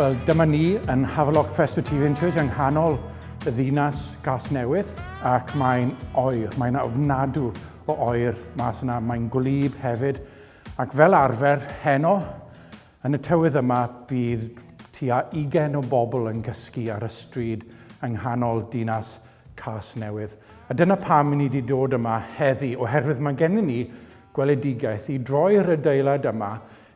Wel, dyma ni yn Havelock Presbyterian Church yng nghanol y ddinas gas newydd ac mae'n oer, mae'n ofnadw o oer mas yna, mae'n gwlyb hefyd Ac fel arfer, heno, yn y tywydd yma, bydd tua ugain o bobl yn gysgu ar y stryd yng nghanol dinas Casnewydd. A dyna pam i ni wedi dod yma heddi, oherwydd mae gennym ni gweledigaeth i droi'r adeilad yma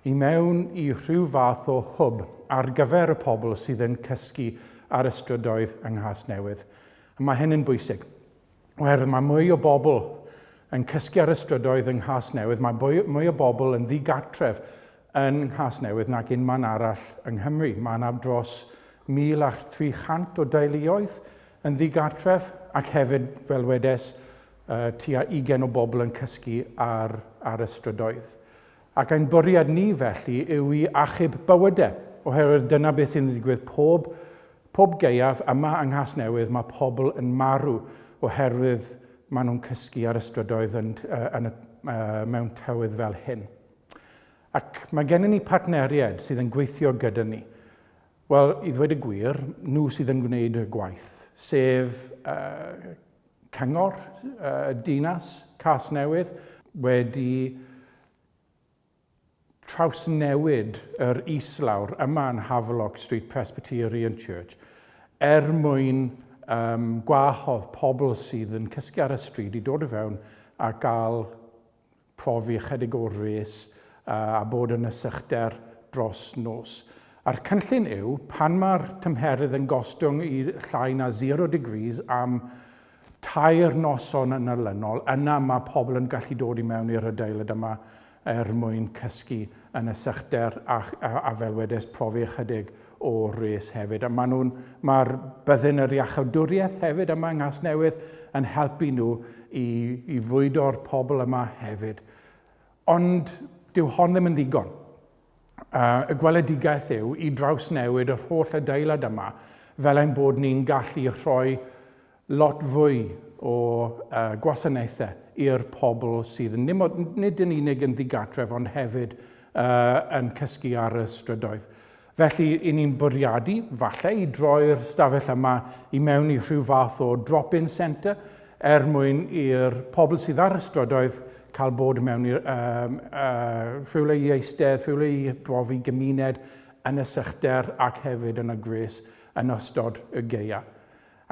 i mewn i rhyw fath o hwb ar gyfer y pobl sydd yn cysgu ar y strydoedd yng Nghasnewydd. A mae hyn yn bwysig. Oherwydd mae mwy o bobl yn cysgu ar y strydoedd yng Nghasnewydd, mae mwy o bobl yn ddigartref yn Nghasnewydd nag unman arall yng Nghymru. Mae yna dros 1,300 o deuluoedd yn ddigartref ac hefyd, fel wedes, tua 20 o bobl yn cysgu ar, ar y strydoedd. Ac ein bwriad ni felly yw i achub bywyde, oherwydd dyna beth sy'n digwydd pob, pob gaeaf yma yng Nghasnewydd, mae pobl yn marw oherwydd maen nhw'n cysgu ar y strydoedd yn, yn y, mewn tywydd fel hyn. Ac mae gennym ni partneriaid sydd yn gweithio gyda ni. Wel, i ddweud y gwir, nhw sydd yn gwneud y gwaith, sef uh, Cyngor Dinas Casnewydd wedi trawsnewid yr islawr yma yn Havelock Street Presbyterian Church er mwyn um, gwahodd pobl sydd yn cysgu ar y stryd i dod i fewn a gael profi ychydig o wres a bod yn y sychder dros nos. A'r cynllun yw, pan mae'r tymheredd yn gostwng i llai na zero degrees am tair noson yn olynol, yna mae pobl yn gallu dod i mewn i'r adeilad yma er mwyn cysgu yn y sychder a, a, a fel wedes, profi ychydig o res hefyd, a maen nhw'n, mae'r byddin yr iachawdwriaeth hefyd yma yng Nghasnewydd yn helpu nhw i, i fwydo'r pobl yma hefyd. Ond dyw hon ddim yn ddigon. Uh, y gweledigaeth yw i drawsnewid yr holl adeilad yma fel ein bod ni'n gallu rhoi lot fwy o gwasanaethau i'r pobl sydd nid yn unig yn ddigartref ond hefyd yn cysgu ar y strydoedd. Felly, i ni'n bwriadu, falle, i droi'r stafell yma i mewn i rhyw fath o drop-in centre er mwyn i'r pobl sydd ar y strydoedd cael bod mewn i rhywle i eistedd, rhywle i brofi gymuned yn y sychder ac hefyd yn y gwres yn ystod y gaeaf.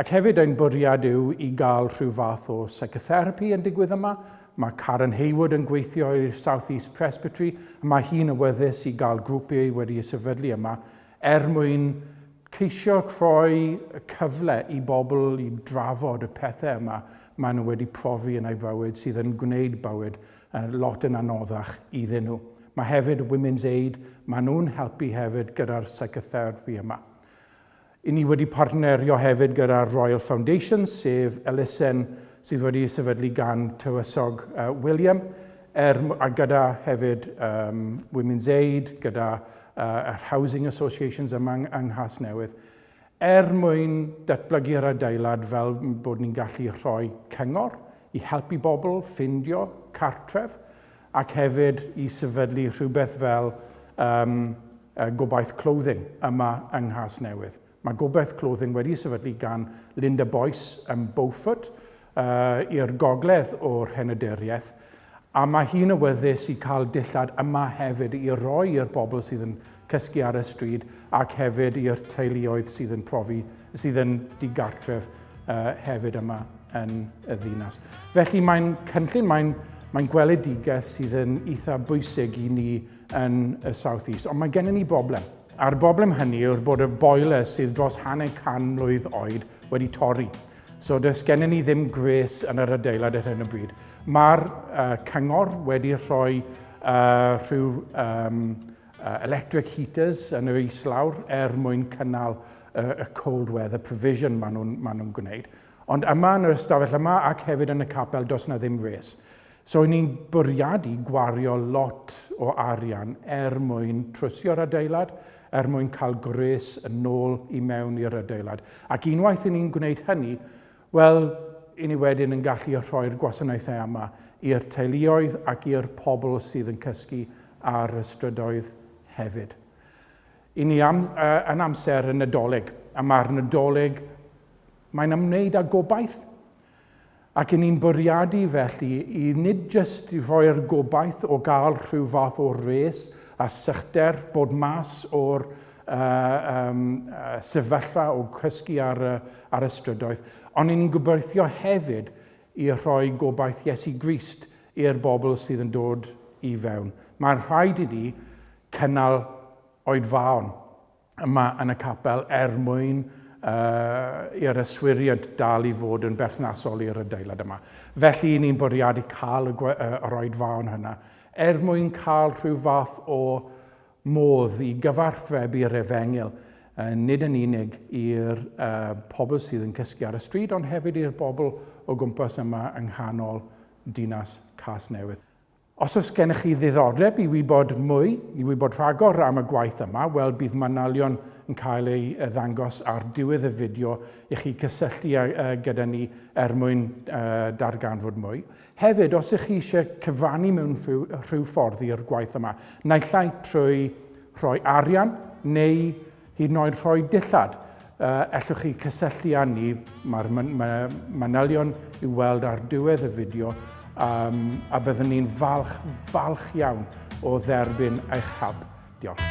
Ac hefyd ein bwriad yw i gael rhyw fath o psychotherapi yn digwydd yma. Mae Karen Hayward yn gweithio i'r South East Presbytery a mae hi'n awyddus i gael grwpiau wedi y sefydlu yma er mwyn ceisio rhoi y cyfle i bobl i drafod y pethau yma maen nhw wedi profi yn eu bywyd sydd yn gwneud bywyd lot yn anoddach iddyn nhw. Mae hefyd Women's Aid, maen nhw'n helpu hefyd gyda'r psychotherapi yma. Ŷn ni wedi partnerio hefyd gyda Royal Foundation, sef elusen sydd wedi ei sefydlu gan Tywysog William, er, a gyda hefyd um, Women's Aid, gyda uh, yr Housing Associations yma yng, yng Nghasnewydd, er mwyn datblygu'r adeilad fel bod ni'n gallu rhoi cyngor i helpu bobl ffindio cartref, ac hefyd i sefydlu rhywbeth fel um, uh, Gobaith Clothing yma yng Nghas Newydd. Mae Gobaith Clothing wedi sefydlu gan Linda Boyce yn Beaufort uh, i'r gogledd o'r henyderiaeth, a mae hi'n awyddus i cael dillad yma hefyd i roi i'r bobl sydd yn cysgu ar y stryd ac hefyd i'r teuluoedd sydd yn profi, sydd yn digartref uh, hefyd yma yn y ddinas. Felly mae'n cynllun, mae'n mae gweledigaeth sydd yn eitha bwysig i ni yn y South East, ond mae gennym ni broblem. A'r broblem hynny yw'r bod y boiler sydd dros hanner can mlwydd oed wedi torri. So does gennym ni ddim gres yn yr adeilad ar hyn o bryd. Mae'r uh, cyngor wedi rhoi uh, rhyw um, electric heaters yn yr islawr er mwyn cynnal y cold weather provision maen nhw'n ma nhw gwneud. Ond yma yn yr ystafell yma ac hefyd yn y capel does na ddim res. So i ni'n bwriadu gwario lot o arian er mwyn trwsio'r adeilad, er mwyn cael gwres yn ôl i mewn i'r adeilad. Ac unwaith i ni'n gwneud hynny, Wel, 'yn ni wedyn yn gallu rhoi'r gwasanaethau yma i'r teuluoedd ac i'r pobl sydd yn cysgu ar y strydoedd hefyd. 'Yn ni am, uh, yn amser y Nadolig, a mae'r Nadolig, mae'n ymwneud â gobaith. Ac 'yn ni'n bwriadu felly i nid jyst i rhoi'r gobaith o gael rhyw fath o res a sychder bod mas o'r yym sefyllfa o gysgu ar y, ar y strydoedd, ond ni'n gobeithio hefyd i rhoi gobaith Iesu Grist i'r bobl sydd yn dod i fewn. Mae'n rhaid i ni cynnal oedfaon yma yn y capel er mwyn uh, i'r yswiriant dal i fod yn berthnasol i'r adeilad yma. Felly i ni'n bwriadu cael y, uh, yr oedfaon hynna er mwyn cael rhyw fath o, modd i gyfarthrebu yr efengyl, nid yn unig i'r pobl sydd yn cysgu ar y stryd, ond hefyd i'r bobl o gwmpas yma yng nghanol dinas Casnewydd. Os oes gennych chi ddiddordeb i wybod mwy, i wybod rhagor am y gwaith yma, wel bydd manylion yn cael ei ddangos ar diwedd y fideo i chi cysylltu gyda ni er mwyn darganfod mwy. Hefyd, os ych chi eisiau cyfrannu mewn rhyw ffordd i'r gwaith yma, naill ai trwy rhoi arian neu hyd yn oed rhoi dillad, ellwch chi cysylltu â ni, mae'r manylion i'w weld ar diwedd y fideo, um, a byddwn ni'n falch, falch iawn o dderbyn eich help. Diolch.